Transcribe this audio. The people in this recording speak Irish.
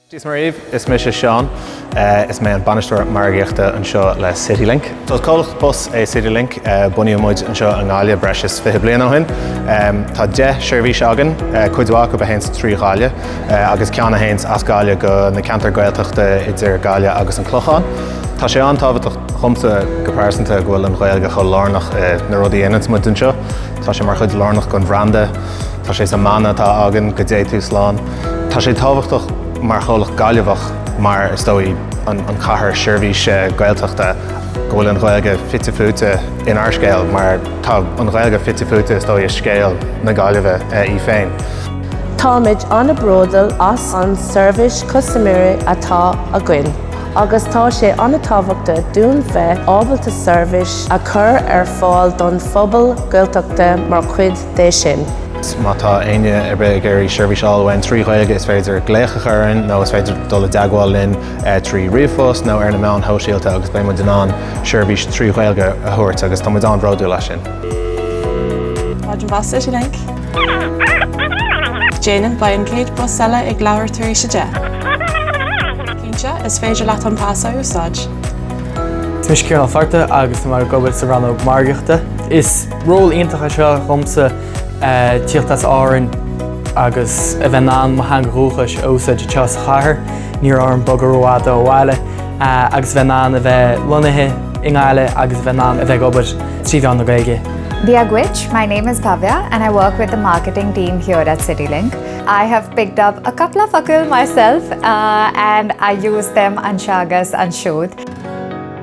Dia is Muire dhaoibh, is mise Seán. Is mé an Bainisteoir Margaíochta anseo le CityLink. Is comhlacht bus é CityLink. Bunaíodh muid anseo i nGaillimh breis is fiche bliain ó shin. Tá deich seirbhís againn, cuid mhaith acu a théanns trí Ghaillimh agus ceann a théanns as Gaillimh go na ceantair Ghaeltachta idir Gaillimh agus an Clochán. Tá sé an-tábhachtach dhomsa go pearsanta go bhfuil an Ghaeilge chomh lárnach i na rudaí a dhéananns muid anseo. Tá sé mar chuid lárnach den bhranda. Tá sé sa mana atá againn, Go dTé Tú Slán. Tá sé tábhachtach mar chomhlacht Gaillimheach, mar is dóigh an chathair sheirbhíse Gaeltachta, go bhfuil an Ghaeilge fite fuaite inár scéal mar tá an Ghaeilge fite fuaite is dóigh i scéal na Gaillimhe í féin. Táimid an-bhródúil as an seirbhís custaiméirí atá againn agus tá sé an-tábhachtach dúinn bheith ábalta seirbhís a chur ar fáil don phobal Gaeltachta mar chuid de sin. Má tá éinne ar bith ag iarraidh seirbhís a fháil uainn trí Ghaeilge, is féidir glaoch a chur orainn nó is féidir dul i dteagmháil linn trí ríomhphost nó ar na meáin shóisialta agus beidh muid in ann seirbhís trí Ghaeilge a thabhairt agus tá muid an-bhródúil as sin. Stáisiún bus CityLink. Déanann beidh an chéad bus eile ag leathuair tar éis a deich. Cinnte, is féidir leat an pas a úsáid. Is mé Ciarán Ó Fátharta agus tá mé ag obair sa rannóg margaíochta. Is. Ról iontach é seo dhomsa, tíocht as Árainn agus a bheith in ann mo theanga dhúchais a úsáid anseo sa chathair, níorbh orm bogadh rófhada ó bhaile agus a bheith in ann a bheith lonnaithe i nGaillimh agus a bheith in ann a bheith ag obair trí mheán na Gaeilge. Dia dhuit, my name is Bhavya and I work with the marketing team here at CityLink. I have picked up cúpla focal myself and I use them anseo agus ansiúd.